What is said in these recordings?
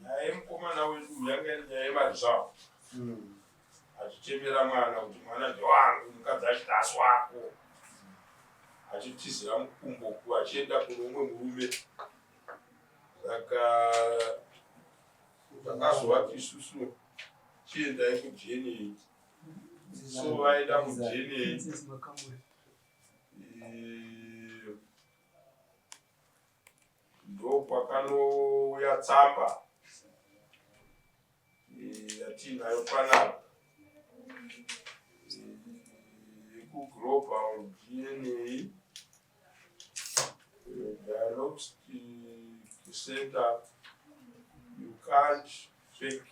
nyaya yemukomana wedu yanga iri nyaya yemarizvavo achichemera mwana kuti mwana ndewangu mukadzi achiti asi wako achitizira mukumbo ku achienda kuno umwe murume saka takazovati isusu chiendai kujeni so vaenda kujeni ndokwakanouya tsamba yatiinayo panapa yekuglobal dna diagnostic center you can't fake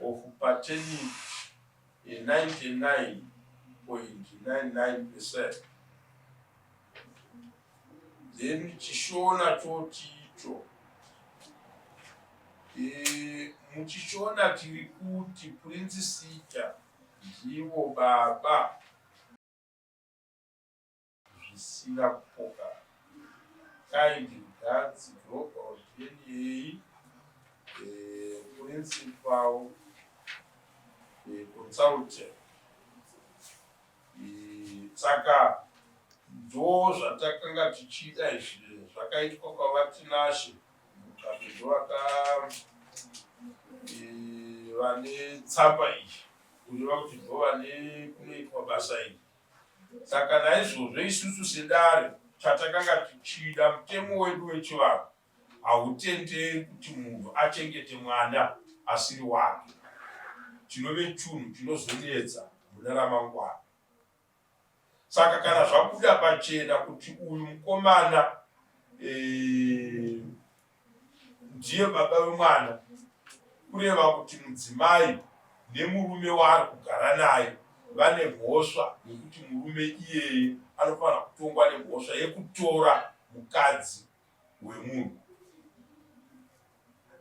of pertaining a 99.99 percent then chishona choti icho e, muchishona tiri kuti prince sita ndivo baba zvisina kupoka kind regards global dna eh, principal eh, consultant eh, saka ndo zvatakanga tichida izvi zvakaitwa kwavatinashe mutape ndovaka vane tsamba iyi kureva kuti ndo vane kunoitwa basa iri Saka naizvozvo isusu sedare chatakanga tichida, mutemo wedu wechivanhu hautenderi kuti munhu achengete mwana asiri wake, chinove chunhu chinozonetsa mune ramangwana. Saka kana zvabuda pachena kuti uyu mukomana ee, eh, ndiye baba vemwana kureva kuti mudzimai nemurume waari kugara naye vane mhosva yekuti murume iyeye anofanira kutongwa nemhosva yekutora mukadzi wemunhu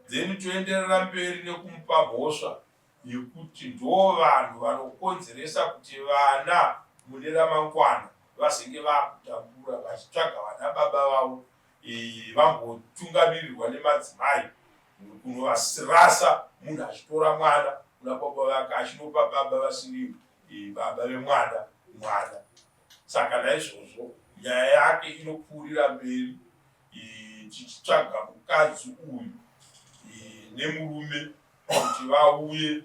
then toenderera mberi nekumupa mhosva yekuti ndo vanhu vanokonzeresa kuti vana mune ramangwana vazenge vakutambura vachitsvaga vana baba vavo iyi vambotungamirirwa nemadzimai kunovasirasa munhu achitora mwana kuna baba vake achinopa baba vasiri eh, baba vemwana mwana saka naizvozvo nyaya yake inopfuurira mberi eh, tichitsvaga mukadzi uyu eh, nemurume kuti vauye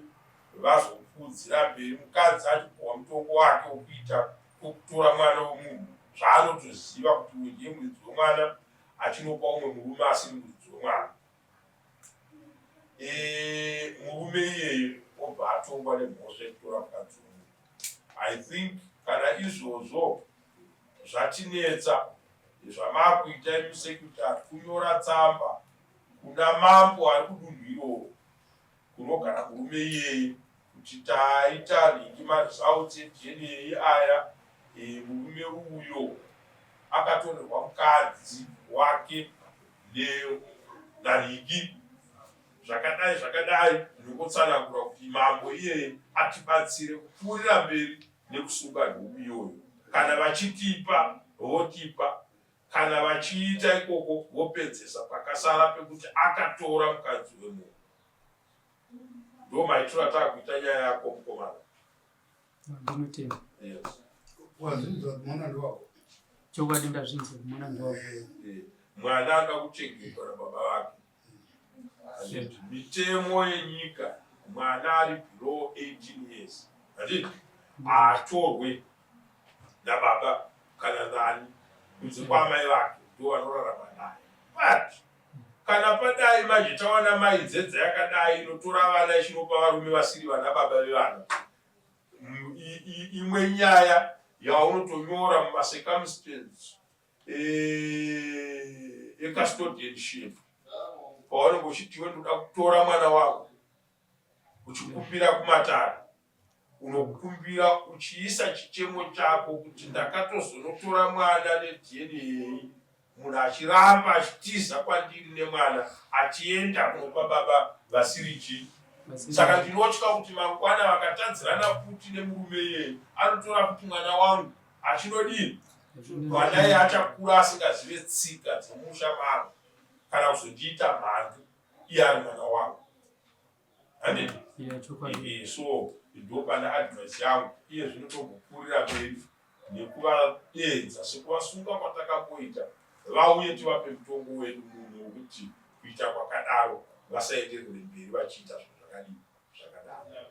vazokuudzira mberi mukadzi achipuhwa mutongo wake wokuita Kutora mwana wemunhu zvaanotoziva kuti uyu ndiye muridzi wemwana achinopa umwe murume asiri muridzi wemwana murume iyeye obva atongwa nemhosva yekutora mukadzi umwe i think kana izvozvo zvatinetsa zvamakuita imusekutari kunyora tsamba kuna mambo ari kudunhu iroro Kunogara murume iyeye kuti taita nhingi maresults eDNA aya eh, murume uyo akatorerwa mukadzi wake Leo naRigi zvakadai zvakadai ndokotsanangura kuti mambo iyeye atibatsire kupfuurira mberi nekusunga nhubu iyoyo kana vachitipa votipa Kana vachiita ikoko vopedzesa pakasara pekuti akatora mukadzi wemunhu. Ndo maitiro atakuita nyaya yako mukomana. Ndinotenda. Yes. Wazvinzwa kumona ndowako. Chokwadi ndazvinzwa kumona ndowako. Eh, eh. Mwana anoda kuchengetwa nababa vake. Hazvidi. Mitemo yenyika mwana ari below 18 years hazvidi. Haatorwe nababa kana nani kunze kwaamai vake ndiwo vanorarama naye. But kana padai manje tawana mai dzedza yakadai inotora vana ichinopa varume vasiri vana baba vevana imwe nyaya yaunotonyora mumacircumstance eh, ecustodianship pawanenge uchitiwe ndoda kutora mwana wangu uchikupira kumatare unokumbira uchiisa chichemo chako kuti ndakatozonotora mwana nedna munhu achiramba achitiza kwandiri nemwana achienda kunopa baba vasiri chii saka ndinotya kuti mangwana vakatadzirana futi nemurume iyeye anotora kuti mwana wangu achinodii kwadai achakura asingazive tsika dzemusha mangu kana kuzondiita mhandu iye ari mwana wangu handiti eh, so ndopane advice yangu iye zvino togokurira mberi nekuvadenza sekuvasunga kwatakamboita vauye tivape mutongo wedu munhu wekuti kuita kwakadaro vasaenderere mberi vachiita zvinhu zvakadii zvakadaro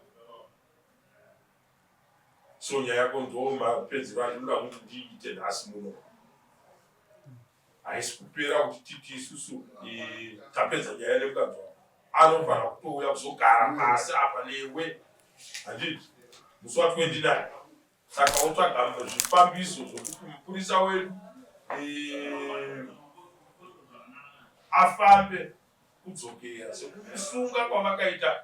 so nyaya yako ndo mapedzero andinoda kuti ndiite nhasi muno haisi kupera kuti titi isusu eh, tapedza nyaya nemukadzi wako anofanira kutouya kuzogara pasi apa newe handiti musi wa 29 saka wotsvaga zvifambiso zvokuti mupurisa wedu eh, afambe kudzokera sekukusunga kwavakaita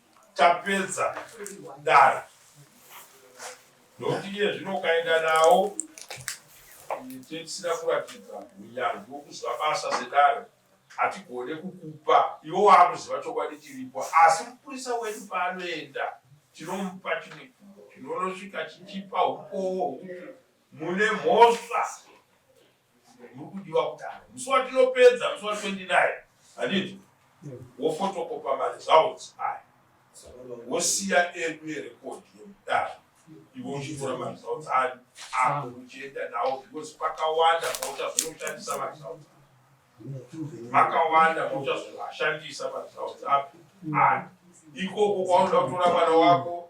tapedza dare nokuti iye zvino ukaenda nawo tisina kuratidza unyanzvi wokuziva basa sedare hatigone kukupa iwo waakuziva chokwadi chiripo asi mupurisa wedu paanoenda tinomupa chimwe chinonosvika chichipa ukowo hwokuti mune mhosva Mukudiwa kutanga musi watinopedza musi wa 29 handiti wofotokopa maresults aya wosiya edu erekodi yemudaro iwe uchitora maresults ayo ako uchienda nawo because pakawanda pauchazoshandisa maresults makawanda mauchazovashandisa maresults api aya ikoko kwaunoda kutora mwana wako